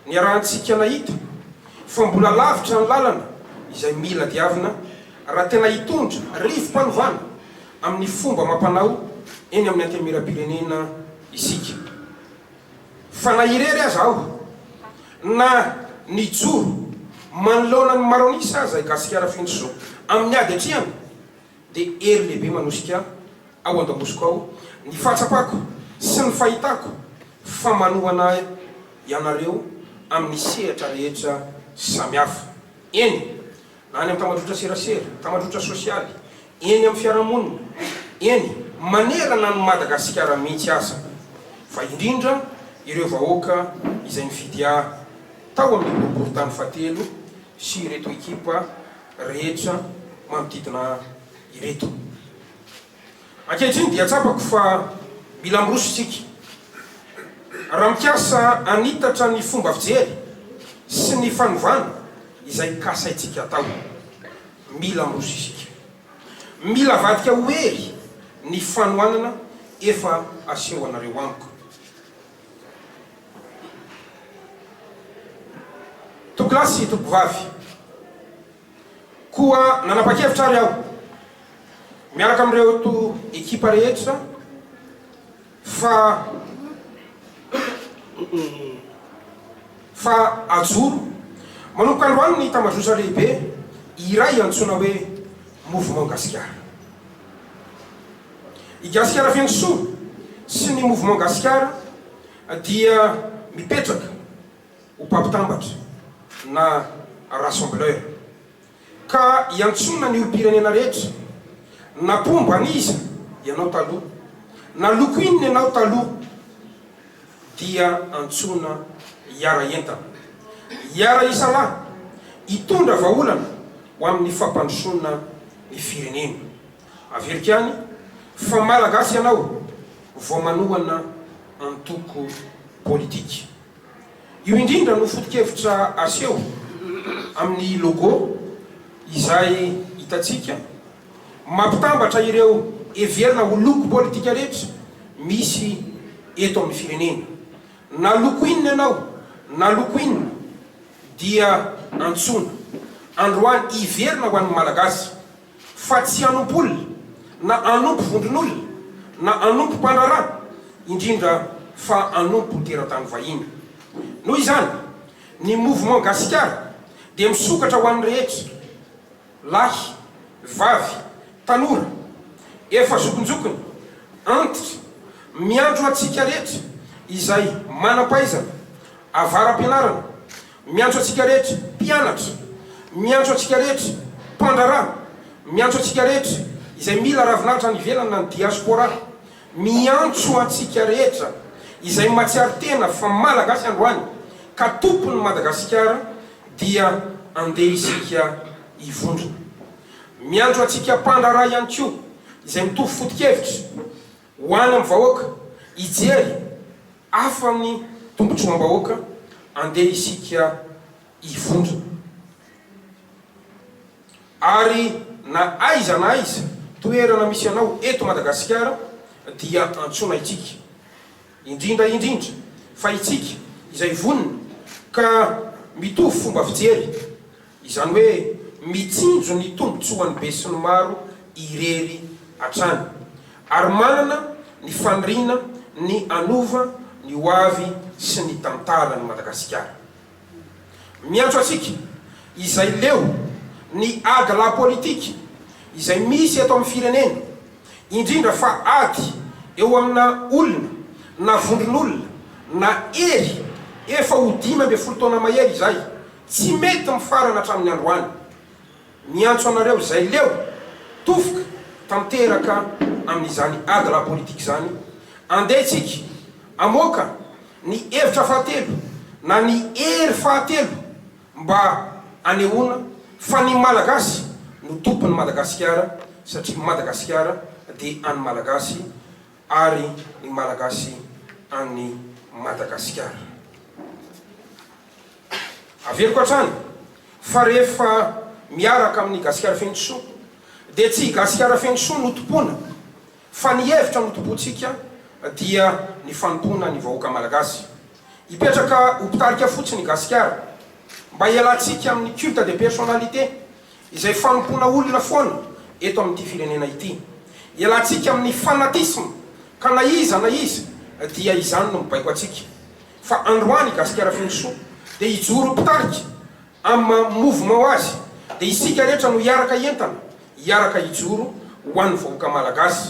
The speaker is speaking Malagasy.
Niarahantsika nahita fa mbola lavitra ny lalana izay mila diavina raha tena hitondra rivo-panovana amin'ny fomba amam-panao eny amin'ny Antenimierampirenena isika. Fa na irery aza aho, na nijoro manoloana ny Maronisa aza i Gasikara Fenosoa amin'ny ady atrehana, dia hery lehibe manosika ao an-damosiko ao ny fahatsapako sy ny fahitako fa manohana ahy ianareo amin'ny sehatra rehetra samihafa, eny, na any amin'ny tamadrotra serasera, tamadrotra sosialy, eny amin'ny fiarahamonina, eny, manerana an'i Madagasikara mihitsy aza, fa indrindra ireo vahoaka izay nifidy ahy tao amin'ny boriborintany fahatelo sy ireto ekipa rehetra manodidina ireto. Ankehitriny dia tsapako fa mila miroso isika. Raha mikasa hanitatra ny fomba fijery sy ny fanovana izay kasaintsika atao, mila miroso isika. Mila avadika ho hery ny fanohanana efa asehonareo amiko. Topilasy Topovavy. Koa nanapa-kevitra ary aho, miaraka amin'ireo to ekipa rehetra, fa fa hajoro manomboka androany ny tambajotsa lehibe iray antsoina hoe Mouvement Gasikara. I Gasikara Feno Soa sy ny Mouvement Gasikara dia mipetraka ho mpampitambatra na rassembleur. Ka iantsoana ny olom-pirenena rehetra na mpomba an'iza ianao taloha, na loko inona ianao taloha dia antsoina hiara-hientana, hiara-hisalahy, hitondra vahaolana ho amin'ny fampandrosoana ny firenena. Averiko any fa Malagasy ianao vao manohana antoko politika. Io indrindra no foto-kevitra aseho amin'ny logo izay hitantsika mampitambatra ireo heverina ho loko politika rehetra misy eto amin'ny firenena. Na loko inona ianao na loko inona dia antsoina androany hiverina ho an'ny Malagasy. fa tsy hanompo olona, na hanompo vondron'olona, na hanompo mpandraharaha, indrindra fa hanompo teratany vahiny. Noho izany, ny Mouvement Gasikara dia misokatra ho an'ny rehetra, lahy, vavy, tanora, efa zokinjokiny, antitra, miandry ho antsika rehetra izay manam-pahaizana, avara-pianarana, Miantso antsika rehetra mpianatra, miantso antsika rehetra mpandraharaha, miantso antsika rehetra izay mila ravinahitra any ivelany na ny diaspora, miantso antsika rehetra izay matsiaro tena fa Malagasy androany ka tompon'i Madagasikara dia andeha isika hivondrona. Miantso antsika mpandraharaha ihany koa izay mitovy foto-kevitra, Ho any amin'ny vahoaka hijery afa amin'ny tombontsoam-bahoaka andeha isika hivondrona. Ary na aiza na aiza toerana misy anao eto Madagasikara dia antsoina itsika. Indrindra indrindra fa itsika izay vonona ka mitovy fomba fijery Izany hoe mitsinjo ny tombontsoan'ny besinimaro irery hatrany, ary manana ny faniriana ny hanova ny ho avy sy ny tantaran'i Madagasikara. Miantso antsika izay leo ny ady lahapolitika izay misy eto amin'ny firenena, indrindra fa ady eo amina olona na vondron'olona na hery efa ho dimy ambin'ny folo taona mahery izay, Tsy mety mifarana hatramin'ny androany. Miantso anareo izay leo tofoka tanteraka amin'izany ady ara-politika izany, andeha isika hamoaka ny hevitra fahatelo na ny hery fahatelo mba hanehoana fa ny Malagasy no tompon'i Madagasikara satria Madagasikara dia an'ny Malagasy ary ny Malagasy an'i Madagasikara. Averiko hatrany fa rehefa miaraka amin'ny Gasikara feno soa dia tsy i Gasikara feno soa no tompoina fa ny hevitra no tompointsika dia ny fanompoana ny vahoaka Malagasy. Hipetraka ho mpitarika fotsiny i Gasikara mba hialantsika amin'ny culte de personnalité izay fanompoana olona foana eto amin'ity firenena ity. Hialantsika amin'ny fanatisme ka na iza na iza dia izany no mibaiko antsika. Fa androany i Gasikara Feno Soa dia hijoro ho mpitarika amin'ny maha mouvement azy dia isika rehetra no hiaraka hientana, hiaraka hijoro ho an'ny vahoaka Malagasy.